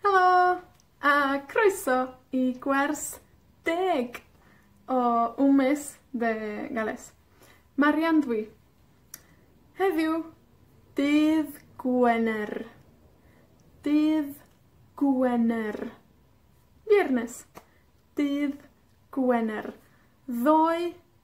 Helo, a croeso i gwers deg o Wmes Dde Gales. Marian dw i. Heddiw, dydd Gwener. Dydd Gwener. Viernes. Dydd Gwener. Ddoe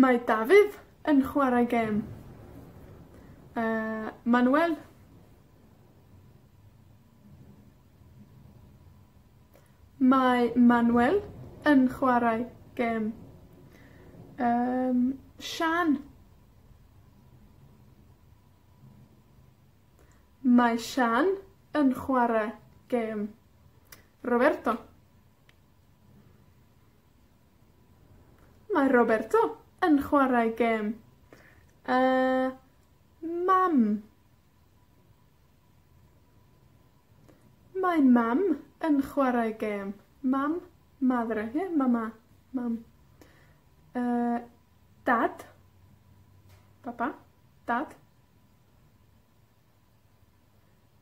Mae Dafydd yn chwarae gêm. Yy, Manuel? Mae Manuel yn chwarae gêm. Yym, Siân? Mae Siân yn chwarae gêm. Roberto. Mae Roberto yn chwarae gêm. Yy, mam. Mae mam yn chwarae gêm. Mam, madre, ie? Mama, mam. Yy, dad. Papa, dad.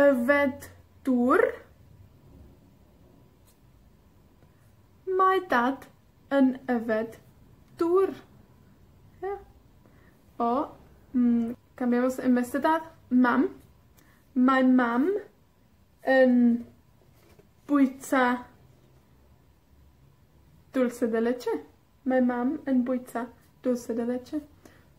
Yfed dŵr. Mae Dad yn yfed dŵr. Ie. O, mm, can I also, Mister Dad? Mam. Mae Mam yn bwyta dulce de leche. Mae Mam yn bwyta dulce de leche.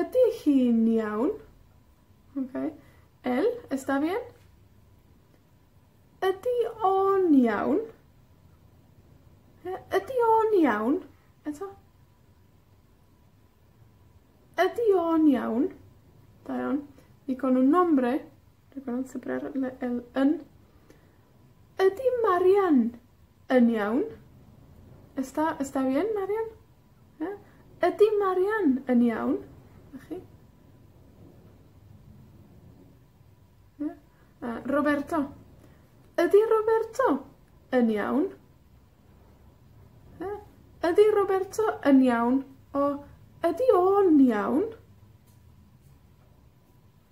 Ydi hi'n iawn? Oce. El está bien? Ydi o'n iawn? Yy, ydi o'n iawn? Eto. Ydi o'n iawn? Da iawn. Y con un nombre, y con un nombre, yn. Ydi Marian Yn iawn. Est da, est da bien, Marian? Ia? Ydi Marian yn iawn? 'Na chi. Ia? A Roberto. Ydi Roberto yn iawn? Ia? Ydi Roberto yn iawn? O, ydi o'n iawn?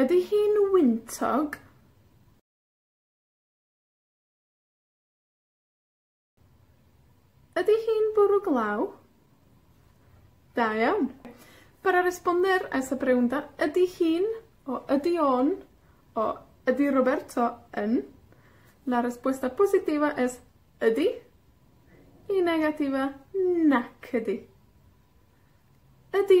Ydi hi'n wyntog? Ydi hi'n bwrw glaw? Da iawn. Para responder a esa pregunta ydi hi'n, o ydi o'n, o ydi Roberto yn, la respuesta positiva es ydi, y negativa nac ydi. Ydi.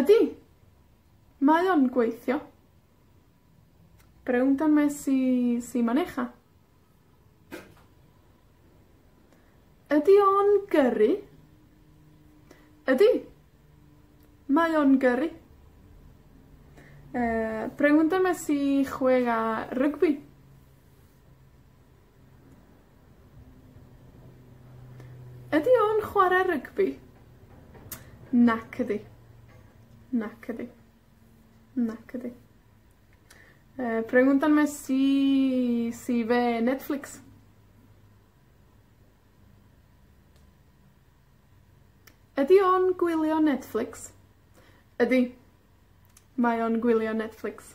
Ydi. Mae o'n gweithio. Rownd a mes i si man ucha. Ydi o'n gyrru? Ydi. Mae o'n gyrru. Yy, rownd a mes i chwe' a rygbi. Ydi o'n chwarae rygbi? Nac ydi. Nac ydi. Nac ydi. Yy, preguntan mes si si ve Netflix. Ydi o'n gwylio Netflix? Ydi. Mae o'n gwylio Netflix.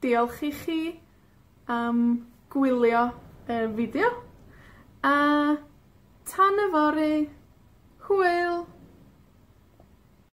Diolch i chi am gwylio y fideo, a tan yfory, hwyl!